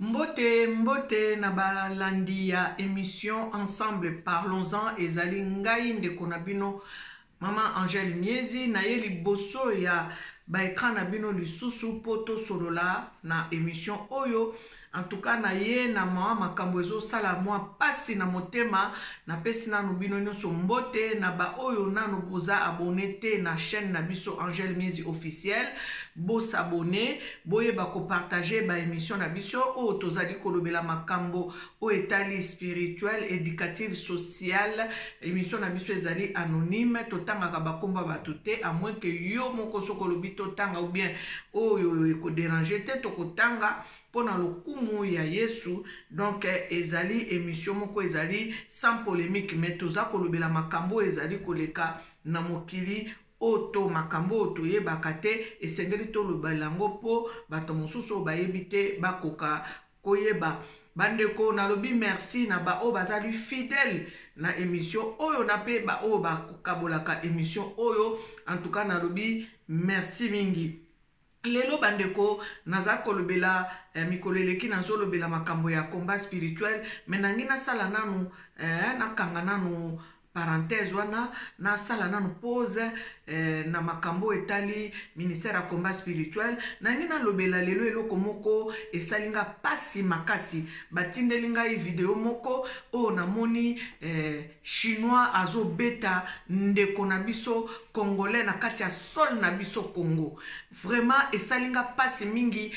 Mbote mbote na balandi ya emission ensemble parlons-en ezali ngai ndeko na bino mama Angèle Miezi naye liboso ya ba ekran na bino lisusu mpo tosolola na emission oyo en tout cas naye na mwa makambo ezosala mwa mpasi na motema Napesi nanu bino nionso mbote na ba oyo nanu boza abonne te na chaine na biso Angel Miezi officiel bo s'abonne boyeba ko partager ba emission na biso oyo tozali kolobela makambo oyo etali spirituel, educative, social emission na biso ezali anonyme totangaka ba kombo ya bato te à moins que yo moko soki olobi totanga ou bien oyo eko deranger te tokotanga mpo na lokumu ya yesu donc ezali emission moko ezali sans polemique mais toza kolobela makambo oyo ezali koleka na mokili oyo to makambo oyo toyebaka te esengeli tolobela yango mpo bato mosusu oyo bayebi te bakoka koyeba bandeko nalobi merci na baoyo bazali fidèle na émission oyo na mpe baoyo bakabolaka émission oyo en tout cas nalobi merci mingi Lelo ba ndeko naza kolobela eh, mikolo eleki nazolobela makambo ya combat spirituel me nangi nasala nanu eh, nakanga nanu parenthèse wana nasala nanu pose eh, na makambo etali ministère ya combat spirituel nangi nalobela lelo eloko moko esali nga pasi makasi batindeli ngai video moko oyo namoni eh, Chinois azo beta ndeko na biso congolais na kati ya sol na biso Congo. Vraiment esali nga pasi mingi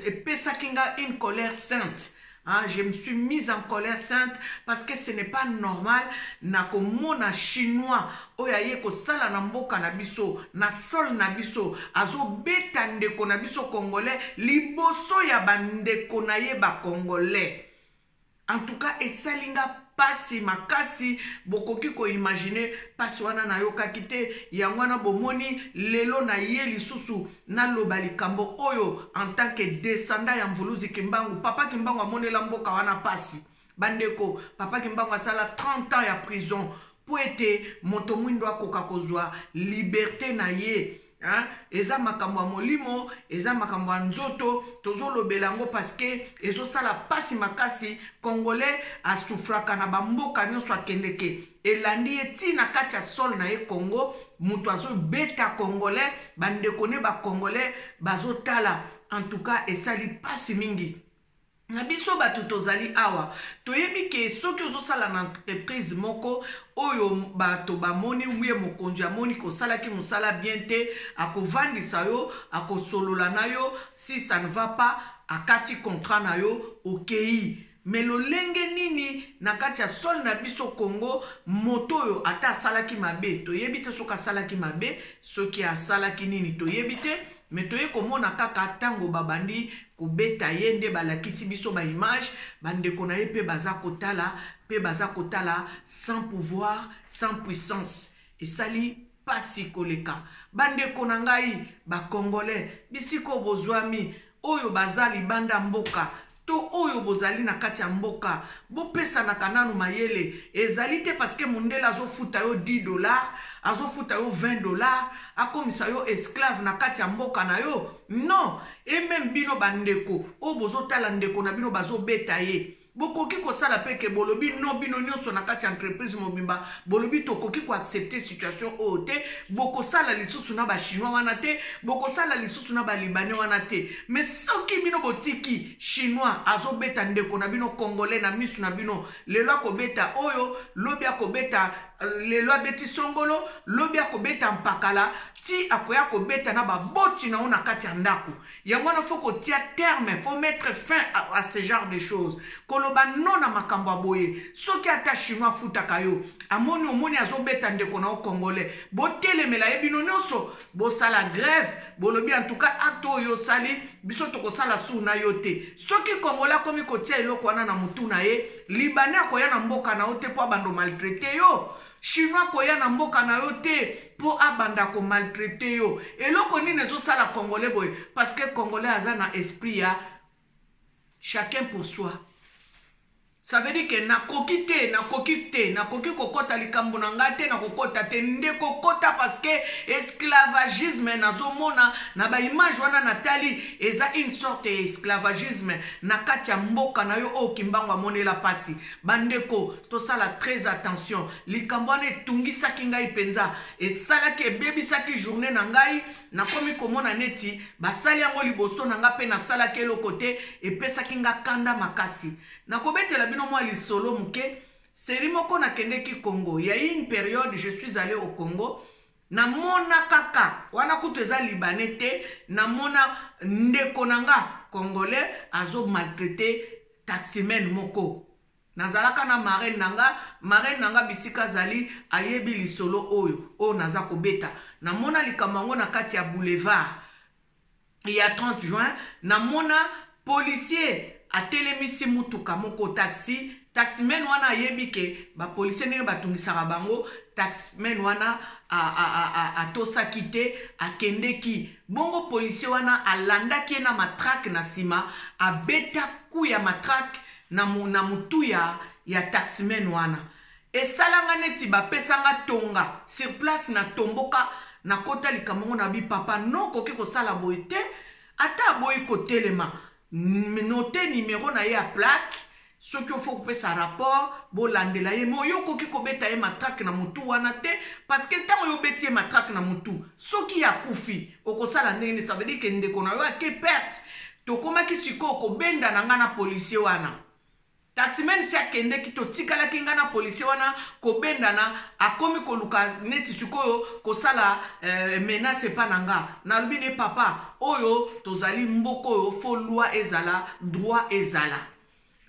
epesaki nga une colère sainte. Hein, je me suis mise en colère sainte parce que ce n'est pas normal na komona chinois oyo aye kosala na mboka na biso na sol na biso azobeta ndeko na biso congolais liboso ya bandeko na ye bacongolais en tout cas esali nga pasi makasi bokoki koimagine pasi wana nayokaki te yango wana bomoni lelo na ye lisusu naloba likambo oyo en tant que descendant ya mvuluzi kimbangu papa kimbangu amonela mboka wana pasi bandeko papa kimbangu asala 30 ans ya prison mpo ete moto mwindo akoka kozwa liberte na ye Hein? eza makambo ya molimo eza makambo ya nzoto tozolobela yango parceke ezosala mpasi makasi congolais asufraka na bamboka nyonso akendeke elandi ye ntii na kati ya sole na ye congo moto azobeta congolais bandeko ne bacongolais bazotala en tout cas esali mpasi mingi Na biso bato tozali awa toyebi ke soki ozosala na entreprise moko oyo bato bamoni uye mokonzi amoni kosalaki mosala bien te akovandisa yo akosolola na yo si ça ne va pas akati contrat na yo okei me lolenge nini na kati ya sole na biso congo moto oyo ata asalaki mabe toyebi te soki asalaki mabe soki asalaki nini toyebi te me toye komona kaka ntango babandi kobeta ye nde balakisi biso ba image bandeko na ye mpe baza kotala mpe baza kotala sans pouvoir sans puissance esali pasi koleka bandeko na ngai bacongolais bisika oyo bozwami oyo baza libanda mboka to oyo bozali na kati ya mboka bopesanaka nanu mayele ezali te parceke mondele azofuta yo 10 dollar azofuta yo 20 dollar akomisa yo esclave na kati ya mboka na yo non et meme bino bandeko oyo bozotala ndeko na bino bazobeta ye bokoki kosala mpe ke bolobi no bino nyonso na kati ya entreprise mobimba bolobi tokoki koaccepte situation oyo te bokosala lisusu na bachinois wana te bokosala lisusu na balibane wana te me soki bino botiki chinois azobeta ndeko na bino congolais na misu na bino lelo akobeta oyo lobi akobeta lelo abeti songolo lobi akobeta mpakala ti akoya kobeta na baboti na yo na kati ya ndako yango wana fo kotia terme fo mettre fin à, à ce genre de choses koloba no na makambo ya boye soki ata chinois afutaka yo amoni omoni azobeta ndeko na yo congolais botelemela ye bino nyonso bosala grève bolobi en tout cas acte oyo osali biso tokosala suu na yo te soki congolais akomi kotia eloko wana na motu na ye Libanais akoya na mboka na yo te mpo abanda maltraite yo. Chinois akoya na mboka na yo te mpo abanda ko maltraite yo. Eloko nini ezosala Congolais boye? Parce que Congolais aza na esprit ya chacun pour soi. Ça veut dire que nakoki te, nakoki te, nakoki kokota likambo na ngai te, nakokota te, nde kokota parce que esclavagisme nazomona na ba image wana natali eza une sorte ya esclavagisme na kati ya mboka na yo oyo kimbangu amonela mpasi bandeko tosala très attention likambo wana etungisaki ngai mpenza esalaki ebebisaki journée na ngai nakomi komona neti basali yango liboso na ngai mpe nasalaki eloko te epesaki ngai kanda makasi nakobetela bino mwa lisolo moke seri moko nakendeki congo ya une periode je suis allé au congo Na mona kaka wana kutu eza libanais te na mona ndeko na nga congolais azo maltraite taximen moko nazalaka na marraine na nga marraine na nga bisika azali ayebi lisolo oyo oyo naza kobeta na mona likambo yango na kati ya boulevard ya 30 juin namona policier atelemisi motuka moko taxi taximen wana ayebi ke bapolisier ndenge batungisaka bango taximen wana atosaki te akendeki bongo polisier wana alandaki ye na matrake na nsima abeta ku ya matrake na motu ya, ya taximen wana Esala nga neti ba pesa nga tonga sur place na tomboka na kota likambo ngo na bi papa no koki kosala boye te ata aboyi kotelema note numero na ye ya plaque soki ofo kopesa rapport bolandela ye me oyo okoki kobeta ye matrake na motu wana te parceke ntango yo obeti ye matrake na motu soki ye akufi okosala ndenge nini ça veut dire ke ndeko na yo ake perte tokomaki sikoyo kobenda na ngai na policier wana Taximen si akendeki totikalaki nga na policier wana kobendana akomi koluka neti sikoyo kosala euh, menace epa na nga nalobi ne papa oyo tozali mboka oyo fo loi ezala droit ezala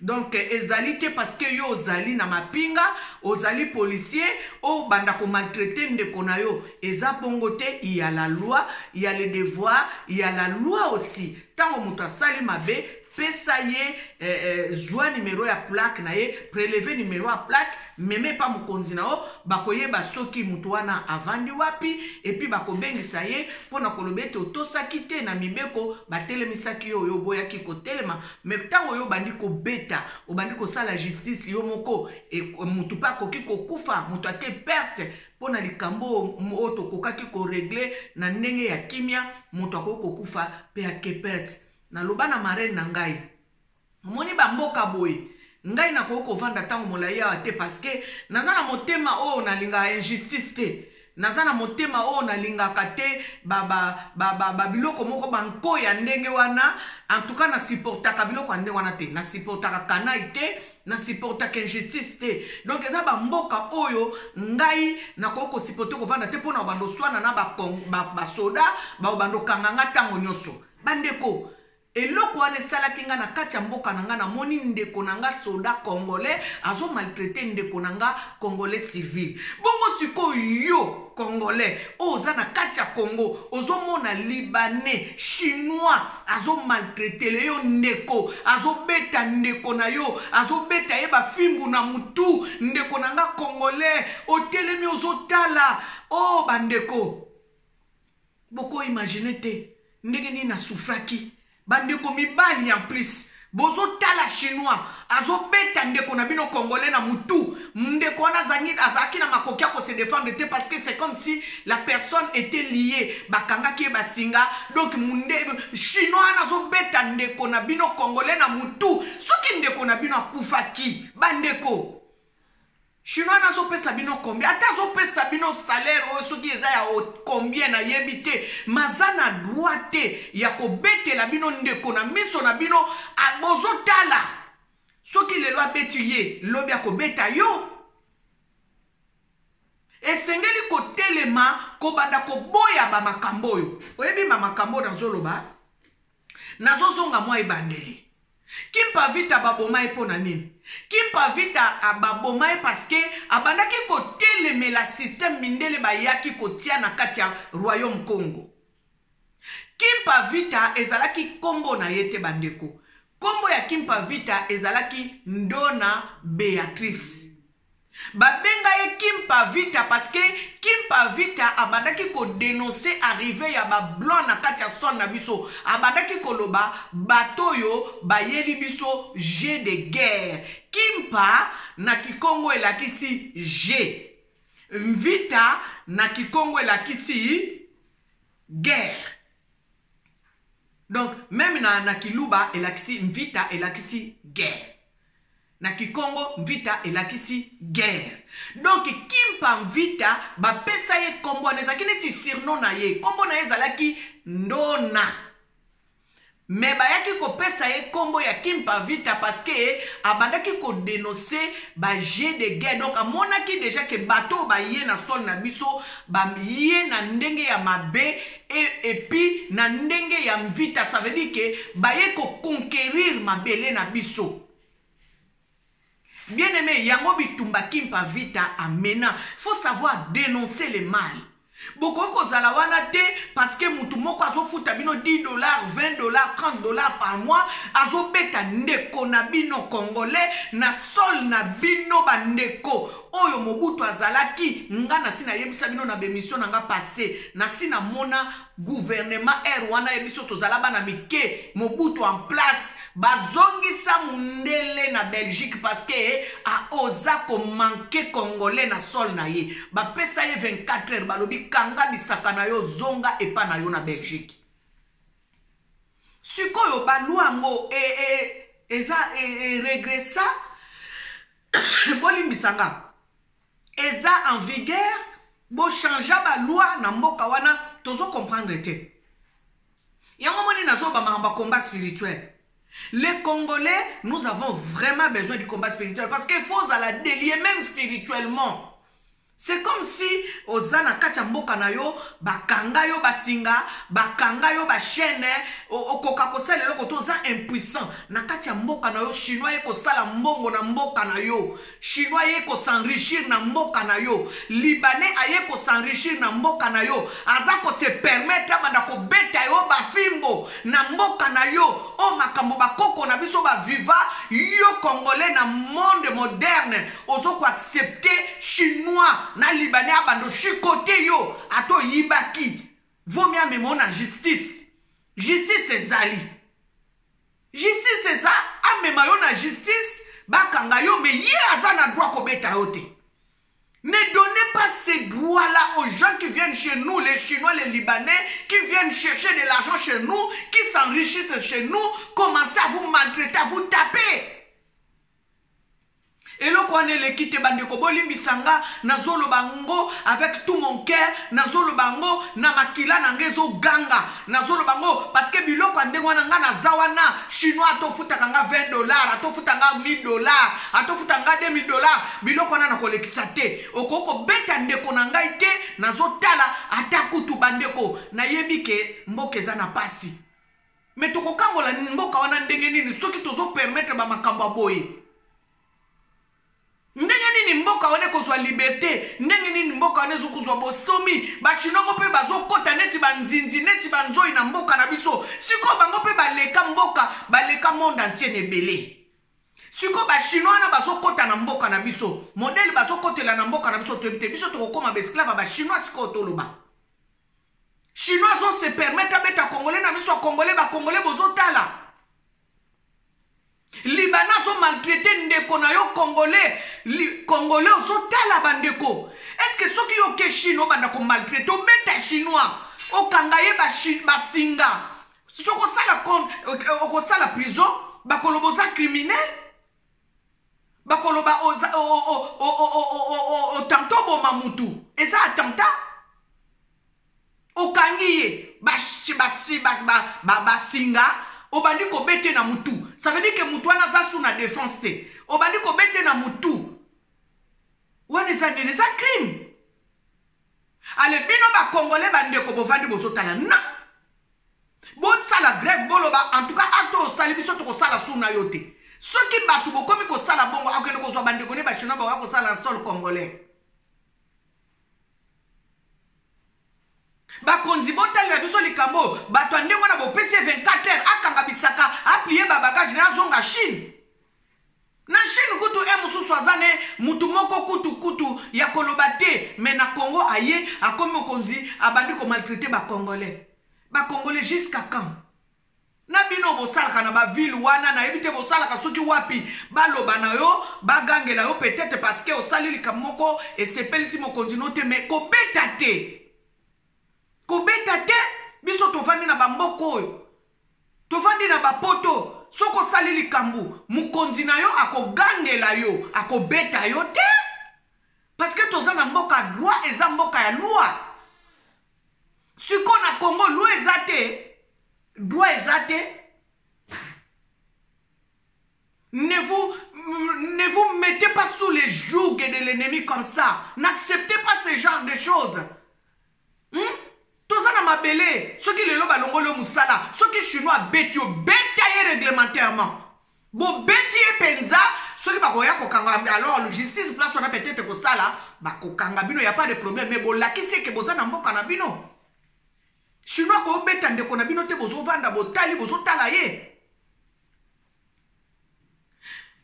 donc ezali te parce que yo ozali na mapinga ozali policier obanda komaltraite ndeko na yo eza bongo te ya la loi ya le devoir ya la loi aussi ntango moto asali mabe pesa ye eh, eh, zwa nimero ya plaque na ye preleve nimero ya plaque meme epa mokonzi na yo bakoyeba soki moto wana avandi wapi epi bakobengisa ye mpo na koloba ete otosaki te na mibeko batelemisaki yo oyo oboyaki kotelema me ntango oyo obandi kobeta obandi kosala justice yo moko e, moto mpe akoki kokufa moto ake perte mpo na likambo oyo tokokaki koregle na ndenge ya kimia moto akoki kokufa mpe ake perte Naloba na marraine na ngai, omoni ba mboka boye, ngai nakoki kovanda ntango molai awa te parce que naza na motema oyo nalingaka injustice te. naza na motema oyo nalingaka te babiloko moko banko ya ndenge wana antuka na supportaka biloko ya ndenge wana te na supportaka kanai te na supportaka injustice te donc eza bamboka oyo ngai nakoki kosipote kovanda te mpo na obanda oswana na basoda baobanda okanganga ntango nyonso bandeko eloko wana esalaki nga na kati ya mboka na nga namoni ndeko na nga soda congolais azo maltraite ndeko na nga congolais civil bongo sikoyo yo congolais oyo oza na kati ya congo ozomona libanais chinois azo maltraitele yo ndeko azobeta ndeko na yo azobeta ye bafimbu na motu ndeko na nga congolais otelemi ozotala o oh, bandeko boko imagine te ndenge nini nasufraki bandeko mibali en plus bozotala chinois azobeta ndeko na bino congolais na mutu ndeko wana azalaki na makoki ya kose defendre te parce que c'est comme si la personne était liée bakangaki ye basinga donc munde chinois wana azobeta ndeko na bino congolais na mutu soki ndeko na bino akufaki bandeko Chinois na azo pesa bino combien ata azo pesa bino salaire oyo soki eza ya combien na yebi te maza na droit te ya kobetela bino ndeko na miso na bino bozo tala soki lelo abeti ye lobi akobeta yo esengeli kotelema kobanda koboya bamakambo oyo oyebi bamakambo oyo nazoloba nazozonga mwa ebandeli kimpa vita baboma ye mpo na nini kimpa vita ababoma ye parceke abandaki kotelemela systeme mindele bayaki kotia na kati ya royaume congo kimpa vita ezalaki nkombo na ye te bandeko nkombo ya kimpa vita ezalaki ndona beatrice babenga ye kimpa vita parceke kimpa vita abandaki kodenonse arrive ya bablanc na kati ya sone na biso abandaki koloba bato oyo bayeli biso je de guerre kimpa na kikongo elakisi je mvita na kikongo elakisi guerre donc meme na, na kiluba elakisi mvita elakisi guerre na kikongo mvita elakisi guerre donc kimpa mvita bapesa ye nkombo wana ezalaki neti sirno na ye nkombo na ye ezalaki ndona me bayaki kopesa ye nkombo ya kimpa vita parceke abandaki kodenonse baje de guerre donc amonaki deja ke bato oyo baye na sole na biso baye na ndenge ya mabe et, et puis na ndenge ya mvita ça veut dire que baye ko conquérir mabele na biso bien aimé yango bitumba kimpa vita amena faut savoir dénoncer le mal bokoki kozala wana te parce que motu moko azofuta bino 10 dollars 20 dollars 30 dollars par mois azobeta ndeko na bino congolais na sol na bino bandeko oyo mobutu azalaki nga nasi nayebisa bino na bemission na nga passe nasi namona guvernema aire wana ye biso tozala bana mike mobutu en place bazongisa mundele na belgique parce que aoza komanke congolais na sol na ye bapesa ye 24 heures balobi kanga bisaka na yo zonga epa na yo na belgique sikoyo balwa yango e, e, eza e, e, regressa bolimbisa nga eza en vigueur bochangea baloi na mboka wana tozo comprendre te yango moni nazoba makambo ya combat spirituel les congolais nous avons vraiment besoin du combat spirituel parce qu'il faut ozala delie même spirituellement C'est comme si oza na kati ya mboka na yo bakanga yo basinga bakanga yo bachaine okoka kosala eloko to oza impuissant na kati ya mboka na yo chinois ye kosala mbongo na mboka na yo chinois ye kosenrichir na mboka na yo libanais aye kosenrichir na mboka na yo aza kose permettre abanda kobeta yo bafimbo na mboka na yo oyo makambo bakoko na biso baviva yo congolais na monde moderne ozo ko accepte chinois na libanais abando chicote yo ata oyibaki vomi amema na justice justice ezali justice eza amema yo na justice bakanga yo me ye aza na droit kobeta yo te Ne donnez pas ces droits-là aux gens qui viennent chez nous, les Chinois, les Libanais, qui viennent chercher de l'argent chez nous, qui s'enrichissent chez nous, commencez à vous maltraiter, à vous taper. eloko wana eleki te bandeko bolimbisa nga nazoloba ngo avec tout mon cœur nazoloba ngo na makila na nga ezoganga nazoloba ngo parce que biloko ya ndenge wana nga naza wana chinois atofutaka nga 20 dollar atofuta nga 1000 dollar atofuta nga 2000 dollar biloko wana nakolekisa te okoki kobeta ndeko na ngai te nazotala ata kutu bandeko nayebi ke mboka eza na pasi me tokokangola mboka wana ndenge nini soki tozopermetre bamakambo ya boye ndenge nini mboka wana ekozwa liberte ndenge nini mboka wana ezokozwa bosomi bachinoko mpe bazokɔta neti banzinzi neti banzoi na mboka na biso sikoyo bango mpe baleka mboka baleka monde antie na ebele sikoyo bachinois wana bazokɔta na mboka na biso modele bazokɔtela na mboka na biso toyebi te biso tokokoma baesclave ya bachinois sikoyo toloba chinois azo se permettre abeta congolais na miso ya congolais bacongolais bozotala libana azo maltraite ndeko na yo congolais li, congolais ozotala bandeko estce que soki yoke chine obanda komaltraite obeta chinois okanga ye basinga ba soki okosala okosala prison bakoloba oza criminel bakoloba otanta oboma mutu eza atanta okangi ye basinga obandi kobete na mutu ça veut dire ke mutu wana aza su na defense te obandi kobete na mutu wana eza nini eza crime Ale bino ba congolais ba ndeko bovandi bozotala non bosala grève boloba en tout cas acte osali biso tokosala sur na yo te soki bato bokomi kosala bongo akokende kozwa bandeko ne bachinois bakoya kosala na sol congolais bakonzi botalela biso likambo oyo bato ya ndenge wana bopesi ye 24 heures akanga bisaka aplie babagage na azonga chine Na chine kutu he mususu aza ne mutu moko kutu kutu ya koloba te mais na congo aye akomi mokonzi abandi ko maltraite ba congolais ba congolais jusqu'à quand? na bino bosalaka na ba ville wana nayebi te bosalaka soki wapi baloba na yo bagangela yo peut-etre parce que osali likambo moko esepelisi mokonzi no te mais kobeta te kobeta te biso tovandi na bamboka oyo Tovandi na ba poto soki osali likambu mukonzi na yo akogangela yo akobeta yo te parce que toza na mboka droit eza mboka ya loi siko na congo loi eza te droit eza te ne vous ne vous mettez pas sous les jougs de l'ennemi comme ça n'acceptez pas ce genre de choses hmm? toza na mabele soki lelo balongoli yo mosala soki chinois abeti yo beta ye réglementairement bobeti ye mpenza soki bakoya kokanga alors justice place wana peut-être kosala bakokanga bino ya pas de problème mais bolakisi eke boza na mboka na bino chinois kobeta ndeko na bino te bozovanda botali bozotala ye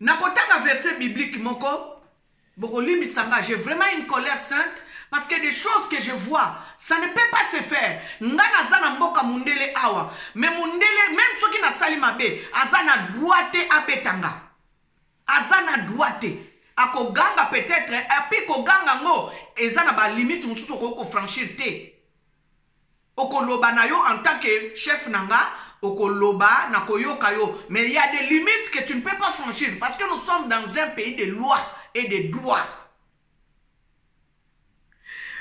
nakotanga verset biblique moko bokolimbisa nga j'ai vraiment une colère sainte parce que des choses que je vois ça ne peut pas se faire nga naza na mboka mundele awa mais mundele même soki nasali mabe aza na droit te abeta nga aza na droit te akoganga peut-être epuis koganga yango eza na balimite mosusu okoki kofranchir te Okoloba na yo en tant que chef na nga, okoloba na koyoka yo mais il y a des limites que tu ne peux pas franchir parce que nous sommes dans un pays de loi et de droit.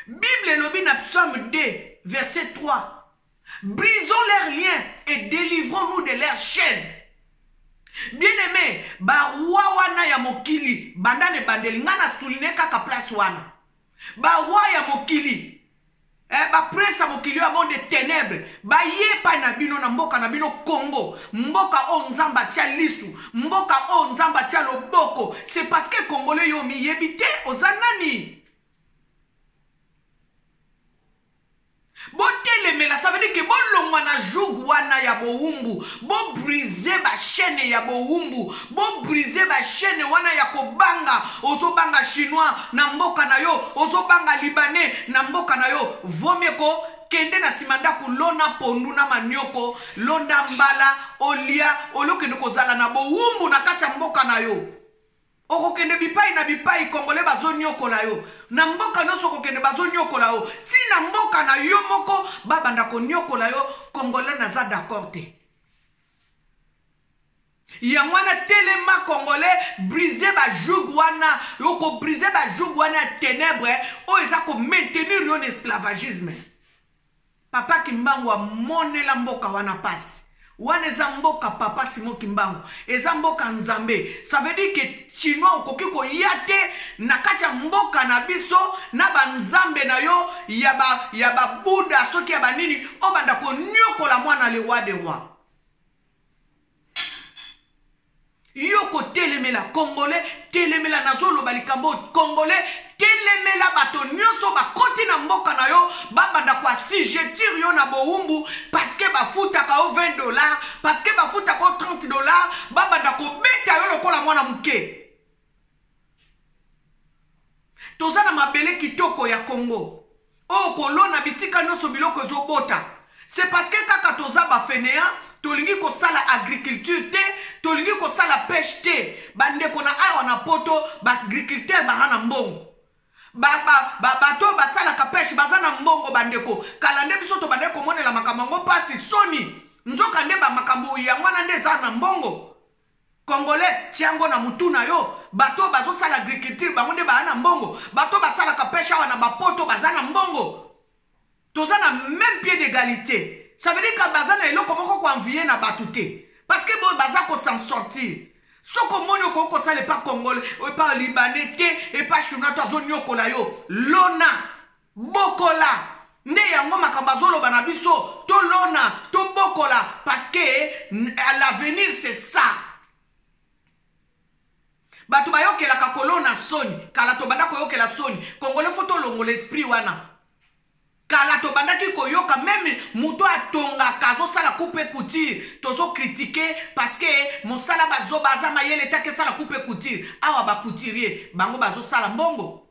Bible elobi na psaume 2 verset 3 brisons leurs liens et délivrons-nous de leurs chaînes. Bien-aimé, barwa wana ya mokili banda na ebandeli ngai na souligne kaka place wana. baroi ya mokili eh, baprince ya mokili oyo ya monde de ténèbre baye epai na bino na mboka na bino congo mboka oyo nzambe atya lisu mboka oyo nzambe atya loboko c'est parce que congolais yo omiyebi te oza nani botelemela ça veut dire que bolongwa na joug wana ya bowumbu bobrise bachaine ya bowumbu bobrise bachaine wana ya kobanga ozobanga chinois na mboka na yo ozobanga libanais na mboka na yo vomie ko kende na nsima ndako lona pondu na manioko londa mbala olia olokende kozala na bowumbu na kati ya mboka na yo okokende bipai na bipai kongole bazoniokola yo na mboka nyonso okokende bazoniokola yo ti na mboka na yo moko babanda koniokola yo kongole naza d'accord te yango wana telema kongole brise bajoug wana okobrise bajoug wana ya ténèbre oyo eza komaintenir yo na esclavagisme Papa kimbangu amonela mboka wana pasi wana eza mboka papa simo kimbangu eza mboka nzambe ça veut dire que chinois okoki koya te na kati ya mboka na biso na banzambe na yo ya ba ya babuda soki ya banini obanda konyokola mwana lewa de roi yo kotelemela congolais telemela nazoloba likambo oyo congolais telemela bato nyonso bakoti na mboka na yo babanda koasigetir yo na bowumbu parceke bafutaka yo 20 dollar parceke bafutaka yo 30 dollar babanda kobeta yo lokola mwana moke toza na mabele kitoko ya congo oyo kolona bisika nyonso biloko ezobota c'est parce que kaka toza bafenea tolingi kosala agriculture te tolingi kosala peshe te bandeko na awa na poto baagriculteur baza na mbongo bato oyo basalaka peshe baza na mbongo bandeko kala nde biso tobandaki komonela makambo yango mpasi soni nzoka nde bamakambo yango wana nde eza na mbongo congolais tia yango na mutu na yo bato oyo bazosala agriculture bango nde baa na mbongo bato oyo basalaka peshe awa na bapoto baza na mbongo toza na même pied d'égalité ça veut dire que baza na eloko moko koenvie na bato te parce que boyo baza kosan sortir soki omoni okoki kosala epa congolais epa libanais te epa chinois to azoniokola yo lona bokola nde yango makambo azoloba na biso tolona tobokola parce que l'avenir c'est ça bato bayokelaka kolona soni kala tobanda koyokela soni kongole fo tolongola esprit wana kala tobandaki koyoka meme moto atongaka azosala coupe couture tozokritike parce que mosala bazoba aza mayele te akesala coupe couture awa bacouturier bango bazosala mbongo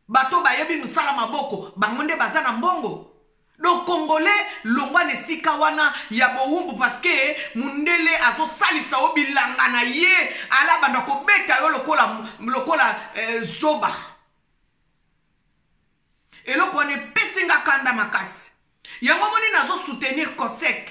bato bayebi mosala maboko bango nde baza na mbongo donc congolais longwa na esika wana ya bowumbu parceke mundele azosalisa yo bilanga na ye ala banda kobeta yo lokola, lokola eh, zoba eloko wana epesi nga kanda makasi yango moni nazosoutenir cosek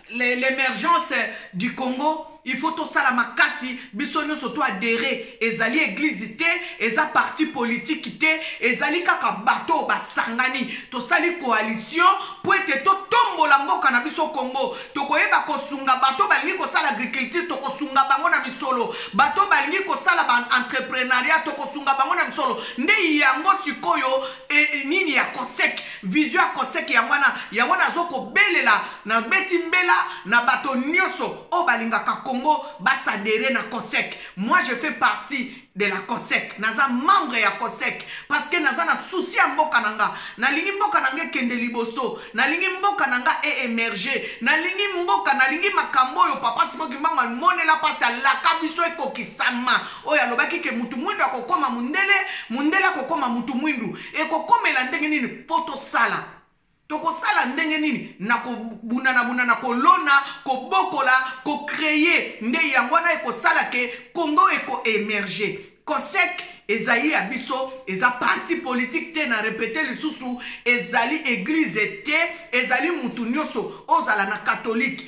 l'emergence du congo il faut tosala makasi biso nyonso to adere ezali eglize te eza parti politiki te ezali kaka bato oyo basangani tosali coalition mpo ete totombola mboka na biso congo tokoyeba kosunga bato balingi kosala agriculture tokosunga bango na misolo bato balingi kosala baentreprenaria tokosunga bango na misolo nde yango sikoyo e, nini ya cosec Vision ya koseke yango wana yango nazo kobelela na beti mbela na bato nyonso oyo balingaka Congo basadere na COSEC. Moi je fais partie de la COSEC. Naza membre ya COSEC parce que naza na souci ya mboka na nga. Nalingi mboka na nga ekende liboso. Nalingi mboka na nga e emerger. Nalingi mboka, nalingi makambo oyo papa Simon Kimbangu amonela pasi alaka biso ekokisama. Oyo alobaki ke mutu mwindu akokoma mundele, mundele akokoma mutu mwindu. ekokomela ndenge nini mpo tosala tokosala ndenge nini na kobundanabundana kolona kobokola kocreye nde yango wana ekosala ke congo ekoemerge cosec ezali ya biso eza parti politike te na repete lisusu ezali eglize te ezali motu nyonso ozala na katolike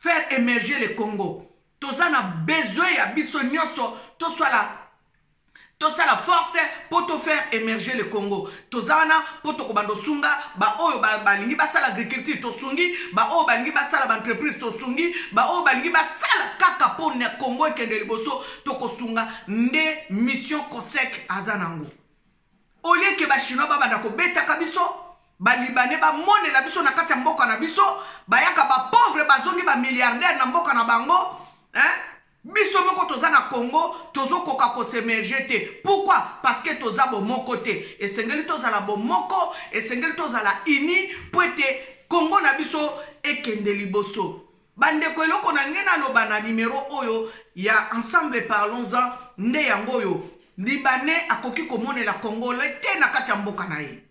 faire emerger le congo toza na besoin ya biso nyonso tosala tosala force mpo tofaire émerger le congo toza wana mpo tokobanda osunga baoyo balingi basala agriculture tosungi baoyo balingi basala baentreprise tosungi baoyo balingi basala kaka mpo na congo ekende liboso tokosunga nde mission cosec aza nango au lieu que ba chinois ba banda ko betaka biso ba libanais ba monela biso na kati ya mboka na biso bayaka ba pauvre bazongi ba milliardaire na mboka na bango hein biso moko toza na congo tozokoka kosemerge te pourkui parce que toza bomoko te esengeli tozala bomoko esengeli tozala uni mpo ete congo na biso ekende liboso bandeko eloko na ngai naloba na nimero oyo ya ensemble parlons-en nde yango oyo libanais akoki komonela congolais te na kati ya mboka na ye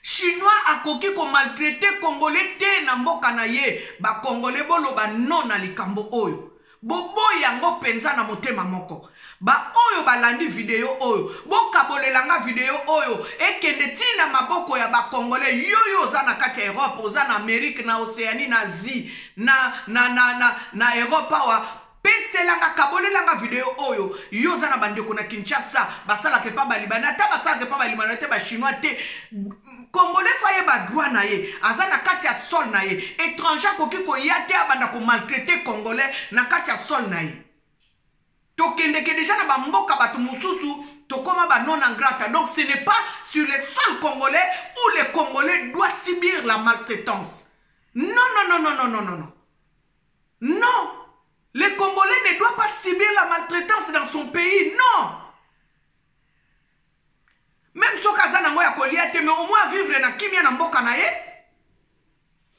chinois akoki komaltraite congolais te na mboka na ye bacongolais boloba non na likambo oyo boboyi yango mpenza na motema moko baoyo balandi video oyo bokabolela nga video oyo ekende ntii na maboko ya bakongole yoyo oza na kati ya europe oza na amerike na oceanie na asie na, na, na, na, na europe awa peselanga kabolelanga video oyo yo oza na bandeko na kinshasa basalaka epa balibani ata basalaka epa balimani te bachinois te congolais fo ayeba droit na ye aza na kati ya sol na ye étranger akoki koya te abanda komaltraite congolais na kati ya sol na ye tokendeke deja na bamboka bato mosusu tokoma banon en grata donc ce n'est pas sur les sols congolais où les congolais doit subir la maltraitance non non non non non non non non non le congolais ne doit pas subir la maltraitance dans son pays non meme soki aza nango ya kolia te mais au moins avivre na kimia na mboka na ye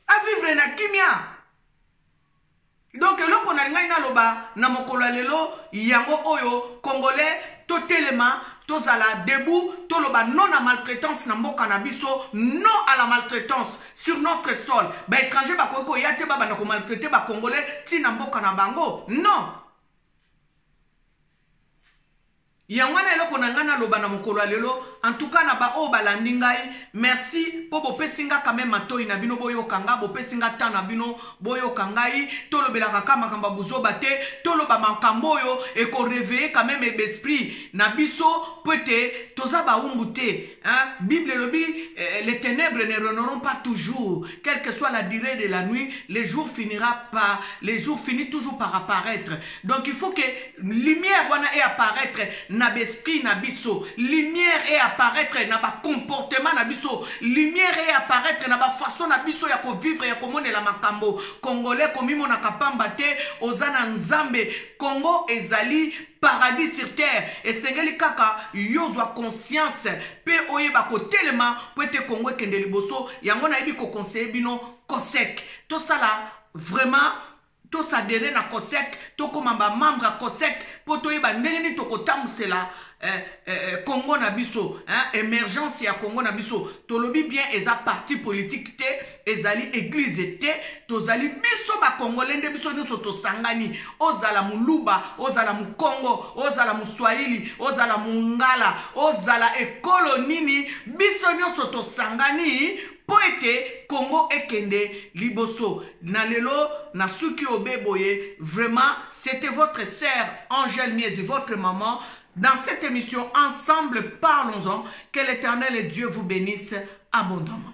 avivre na kimia donc eloko nalingaki naloba na mokolo ya lelo yango oyo congolais totelema tozala debout toloba non na maltraitance na mboka na biso non à la maltraitance sur notre sol baétranger bakoki koya te babanda komaltraite bacongolais ntina mboka na bango non yango wana eloko na ngai naloba na mokolo ya lelo antuka na baoyo balandi ngai merci mpo bopesi ngai kame matoi na bino boyoka ngai bopesi ngai temps na bino boyoka ngai tolobelaka ka makambo ya buzoba te toloba makambo oyo ekoreveye kameme besprit na biso mpo ete toza baumbu te Hein? Bible elobi eh, les ténèbres ne reneront pas toujours quelle que soit la durée de la nuit le jour finira par le jour finit toujours par apparaître donc il faut que lumière wana e apparaître na besprit na biso lumière e apparaître na bacomportement na biso lumière e apparaître na bafaçon na biso ya kovivre ya komonela makambo congolais komimonaka pamba te oza na nzambe congo ezali paradis sur terre esengeli kaka yo ozwa conscience mpe oyeba kotelema mpo ete kongo ekende liboso yango nayebi kokonseye bino cosec tosala vraiment tosadere na cosec tokoma bamembre ya cosec mpo toyeba ndenge nini tokotambusela eh, eh, eh, congo na biso eh, emergence ya congo na biso tolobi bien eza parti politique te ezali eglize te tozali biso bakongole nde biso nyonso tosangani ozala moluba ozala mokongo ozala moswahili ozala mongala ozala ekolo nini biso nyonso tosangani mpo ete kongo ekende liboso na lelo nasuki obe boye vraiment c'était votre sœur angel miezi votre maman dans cette émission ensemble parlons-en que l'éternel dieu vous bénisse abondamment